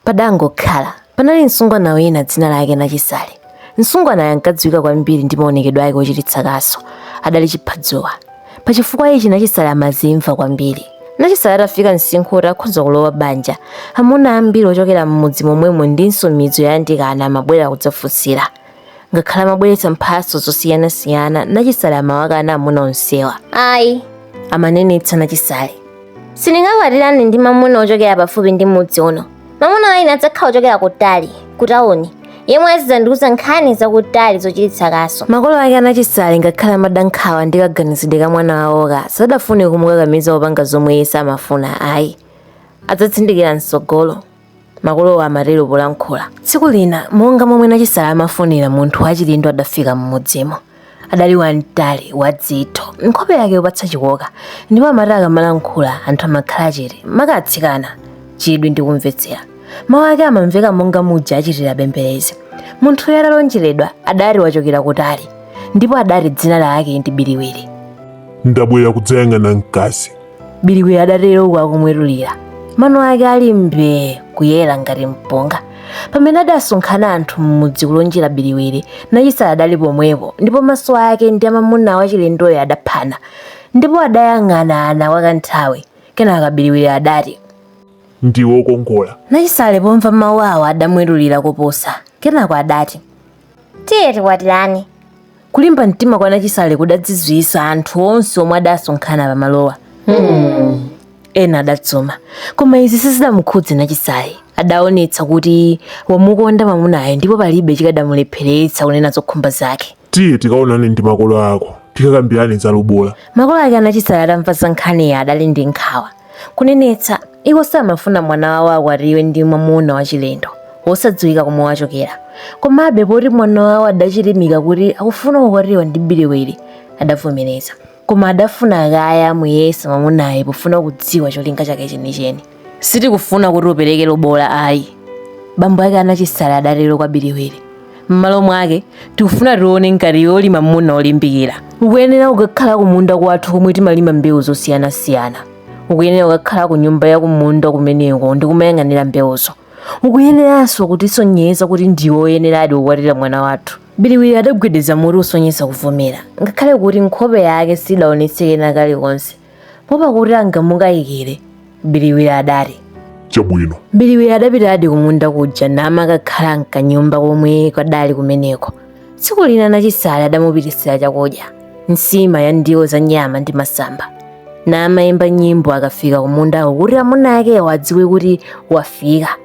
Padangokhala, panali msungwana wina dzina lake Nachisale. Msungwanayo ankadziwika kwambiri ndi maonekedwe ake ochititsa kaso. Adali chiphadzuwa. Pa chifukwa ichi Nachisale amazimva kwambiri. Nachisale atafika msinkhu woti akhoza kulowa banja, amuna ambiri ochokera m'mudzi momwemo ndinso midzi yoyandikana amabwera kudzafunsira. ngakhale amabweretsa mphatso zosiyanasiyana nachisale amawakana amuna onsewa ayi amanenetsa nachisale sindingakwatirane ndi mamuna ochokera pafupi ndi mudzi uno mamuna waine adzakhala ochokera kutali kutawuni yemwe azidzandiuza nkhani zakutali zochititsa kaso makolo ake anachisale ngakhale amadankhawa ndi kaganizidwe ka mwana wawo, ka sadafune kumukakamiza kupanga zomwe iye samafuna ayi adzatsindikira mtsogolo makolowo amatero polankhula tsiku lina monga momwe nachisale amafunira munthu wachilendo adafika m'mudzimo adali wamtali wadzitho nkhope yake yopatsa chikoka ndipo amati akamalankhula anthu amakhala chete makatsikana chidwi ndi kumvetsera mawu ake amamveka monga muja achitira bemberezi munthuyo atalonjeredwa adati wachokera kutali ndipo adati dzina lake ndi biliwiri ndabwera kudzayang'ana mkazi biliwiri adatero uku akumwetulira mano ake ali mbee kuyera ngati mpunga pamene adasonkhana anthu m'mudzi kulonjera biliwiri nachisale adali pomwepo ndipo maso ake ndi amamuna wachilendoyo adaphana ndipo adayang'anana kwa kanthawi kenaka biliwiri adati ndiwe wokongola nachisale pomva mawu awo adamwetulira koposa kenako adati tiye tikwatirane kulimba mtima kwa nachisale kudazizwitsa anthu onse omwe adasonkhana pamalowa ena adadzuma koma izi sizidamukhudze nachisale adaonetsa kuti wamukonda mamunayo ndipo palibe chikadamulepheretsa kunena zokhumba zake tiye tikaonane ndi makolo ako tikakambirane za lobola makolo ake anachisale atamva za nkhaniyi adali ndi nkhawa Kunenetsa, iwo samafuna mwana wawo akwatiwe ndi mwamuna wachilendo wosadziwika komwe wachokera. Komabe, poti mwana wawo adachilimika kuti akufuna kukwatiwa ndi Biliwiri, adavomereza. Koma adafuna kaye amuyese mwamunayo pofuna kudziwa cholinga chake chenicheni. Sitikufuna kuti upereke lobola ayi, bambo ake a Nachisale adatero kwa Biliwiri. m'malo mwake tikufuna tione ngati iwe uli mamuna olimbikira ukuyenera kukakhala kumunda kwathu komwe timalima mbewu zosiyanasiyana ukuyenera kukakhala ku nyumba ya kumunda kumeneko ndi kumayang'anira mbewuzo ukuyeneranso kutisonyeza kuti ndiwe oyeneradi kukwatira mwana wathu biliwiri adagwedeza mutu kusonyeza kuvomera ngakhale kuti nkhope yake sidaonetse kena kalikonse poopa kuti angamukayikire biliwiri adati chabwino biliwiri adapitadi kumunda kuja namakakhala mkanyumba komwe kadali kumeneko tsiku lina nachisale adamupititsira chakudya nsima ya ndiwo za nyama ndi masamba namayimba nyimbo akafika kumundako kuti amuna akewo adziwe kuti wafika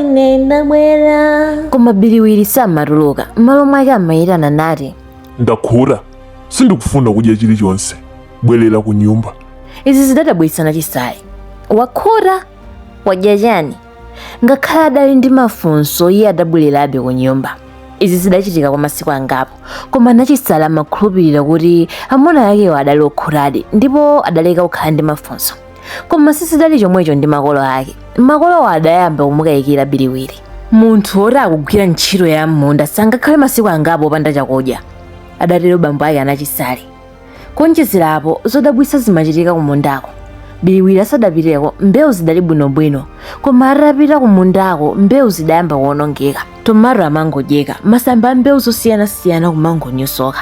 ine ndabwera koma biliwiri samatuluka m'malo mwake amayitana nati ndakhuta sindikufuna kudya chilichonse bwerera ku nyumba izi zidadabwitsa nachisale wakhuta wadya chani ngakhale adali ndi mafunso iye adabwererabe ku nyumba izi zidachitika kwa masiku angapo koma nachisale amakhulupirira kuti amuna akewo adali okhutadi ndipo adaleka kukhala ndi mafunso koma sizidali chomwecho ndi makolo ake makolowo adayamba kumukayikira biliwiri munthu woti akugwira ntchito ya m'munda sangakhale masiku angapo opanda chakudya adatero bambo ake anachisale kuonjezera apo zodabwitsa zimachitika kumundako biliwiri asadapiteko mbewu zidali bwinobwino koma atapita kumundako mbewu zidayamba kuonongeka tomato amangodyeka masamba a mbewu zosiyanasiyana kumangonyosoka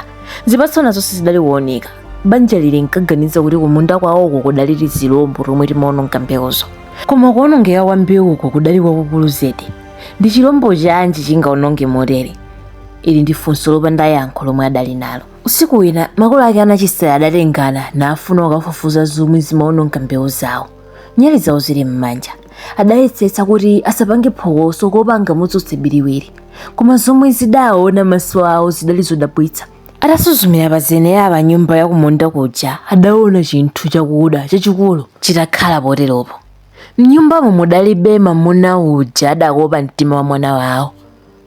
zipatso nazo sizidali kuoneka banja lili linkaganiza kuti kumunda kwawoko kudali tizilombo tomwe timaononga mbewuzo koma kuonongeka kwa mbewuko kudali kwakukulu zedi ndi chilombo chanji chingaononge motere ili ndi funso lopanda yankho lomwe adali nalo usiku wina makolo ake anachisale adatengana nafuna kukafufuza zomwe zimaononga mbewu zawo nyali zawo zili m'manja adayesetsa kuti asapange phokoso kuopa angamudzutse biliwiri koma zomwe zidaona maso awo zidali zodabwitsa Atasuzumira pa zenera pa nyumba ya kumunda kuja, adaona chinthu chakuda chachikulu chitakhala poteropo. M'nyumbamo mudalibe mamuna uja adakopa mtima wa mwana wawo,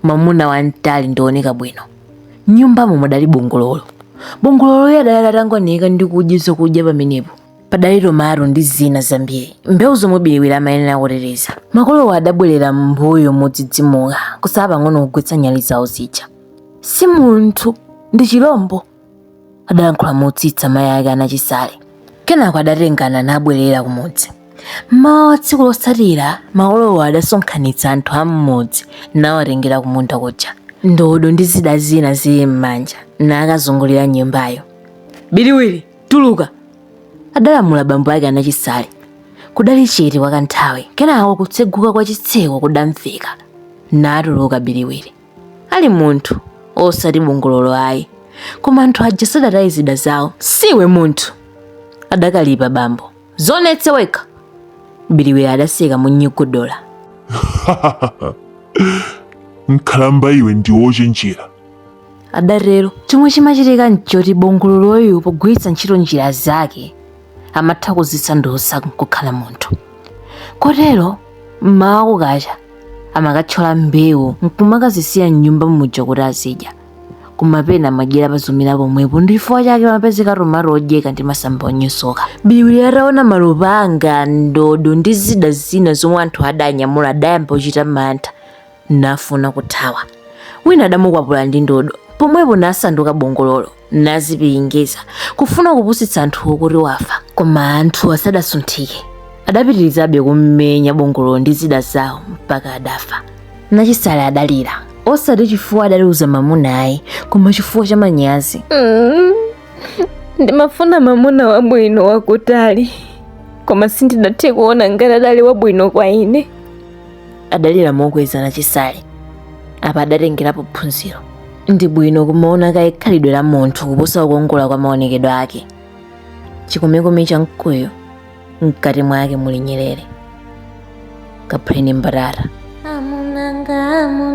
mamuna wamtali ndi wooneka bwino. M'nyumbamo mudali bongololo. Bongololoyo adali atangwanika ndi kudya zakudya pamenepo. Padali tomato ndi zina zambiri, mbewu zomwe Biliwiri amayenera kuteteza. Makolowo adabwerera m'mbuyo modzidzimuka, kutsala pang'ono kugwetsa nyali zawo zija. si munthu ndi chilombo adalankhula motsitsa mayi ake anachisale kenako adatengana nabwerera kumudzi mmawa wa tsiku lotsatira makolowo adasonkhanitsa anthu a mmudzi nawatengera kumunda kuja ndodo ndi zida zina zili m'manja nakazungulira nyumbayo biliwiri tuluka adalamula bambo ake anachisale kudali chete kwa kanthawi kenako kutseguka kwa chitseko kudamveka natuluka biliwiri ali munthu osati bongololo ayi koma anthu aja sadataye zida zawo siwe munthu adakalipa bambo dzionetse wekha biliwiri adaseka monyogodola nkhalamba iwe ndiwe wochenjera adatero chomwe chimachitika nchoti bongololoyu pogwiritsa ntchito njira zake amatha kuzisandutsa nkukhala munthu kotero mmawa kukacha amakathyola mbewu nkumakazisiya mnyumba muja kuti azidya kumapena amadyera pazomera pomwepo ndi chifukwa chake amapezeka tomato odyeka ndi masamba onyosoka biliwiri ataona malupanga ndodo ndi zida zina zomwe anthu adanyamula adayamba kuchita mantha nafuna kuthawa wina adamukwapula ndi ndodo pomwepo nasanduka bongololo nazipiringeza kufuna kupusitsa anthuwo kuti wafa koma anthu asadasunthike adapitirizabe kummenya bongololo ndi zida zawo mpaka adafa nachisale adalira osati chifukwa adaliuza mamuna ayi koma chifukwa cha manyazi ndimafuna mamuna wabwino wakutali koma sindidathe kuona ngati adali wabwino kwa ine adalira mokweza nachisale apa adatengerapo phunziro ndi bwino kumaona kaye khalidwe la munthu kuposa kukongola kwa maonekedwe ake chikomekome cha mkuyu mkati mwake muli nyerere kaphuleni mbatata amunanga amu